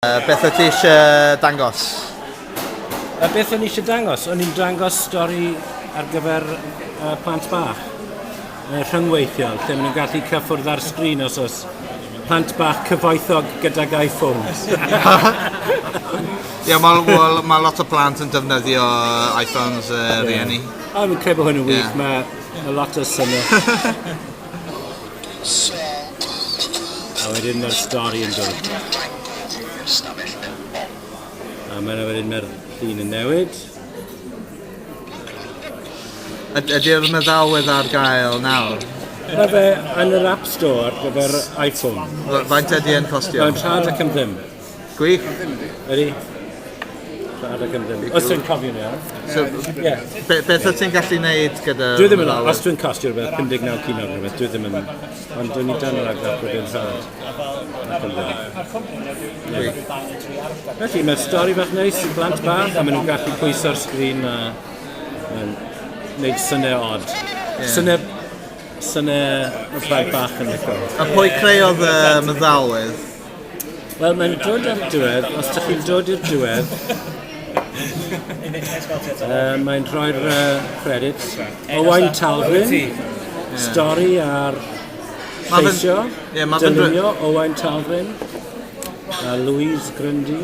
Uh, beth wyt ti eisiau dangos? Uh, beth o'n i eisiau dangos? O'n i'n dangos stori ar gyfer uh, plant bach. Uh, rhyngweithiol, lle maen nhw'n gallu cyffwrdd ar sgrin os oes plant bach cyfoethog gydag iPhones. Ie, mae well, ma lot o plant yn defnyddio iPhones uh, yeah. rhieni. Oh, Mae'n credu bod hwn yn wych, yeah. mae ma lot o syniad. A wedyn ma'r stori yn dod. A ma' 'na wedyn ma'r llun yn newid. Yd- ydi'r meddalwedd ar gael nawr? Ma' fe yn yr App Store ar gyfer iPhone. F- faint ydi e'n costio? Mae'n 30 pump dim. Gwych. Ydy. Siarad ac ymdyn. Os dwi'n cofio'n iawn. So, yeah. be, beth o ti'n gallu neud gyda... Dwi ddim yn... Os dwi'n costio rhywbeth 59 cyn o'n rhywbeth, dwi ddim yn... Ond dwi'n ni dan yr agor bod yn sad. Felly, mae'r stori bach neis i blant bach a maen nhw'n gallu pwyso'r sgrin a... Mae'n gwneud syniau odd. Yeah. Syniau... Syniau... Mae bach yn licio. A pwy creodd y meddalydd? Wel mae'n dod ar y diwedd, os dych chi'n dod i'r diwedd uh, mae'n rhoi'r uh, credits Owain Talfrin, stori ar lleisio, yeah, dylunio Owain Talfrin, a Louise Grundy.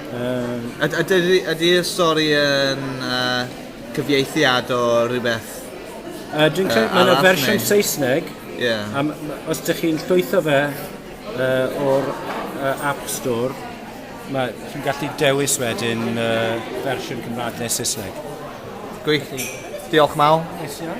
Yym yd- ydi ydi ydi'r stori yn yy cyfieithiad o rywbeth Yy dwi'n credu ma' 'na arall fersiwn neu? Saesneg. Ie. A m- m- os dych chi'n llwytho fe yy o'r yy App Store ma' chi'n gallu dewis wedyn yy fersiwn Cymra'g ne' Saesneg. Gwych. Diolch Mal. Neis iawn.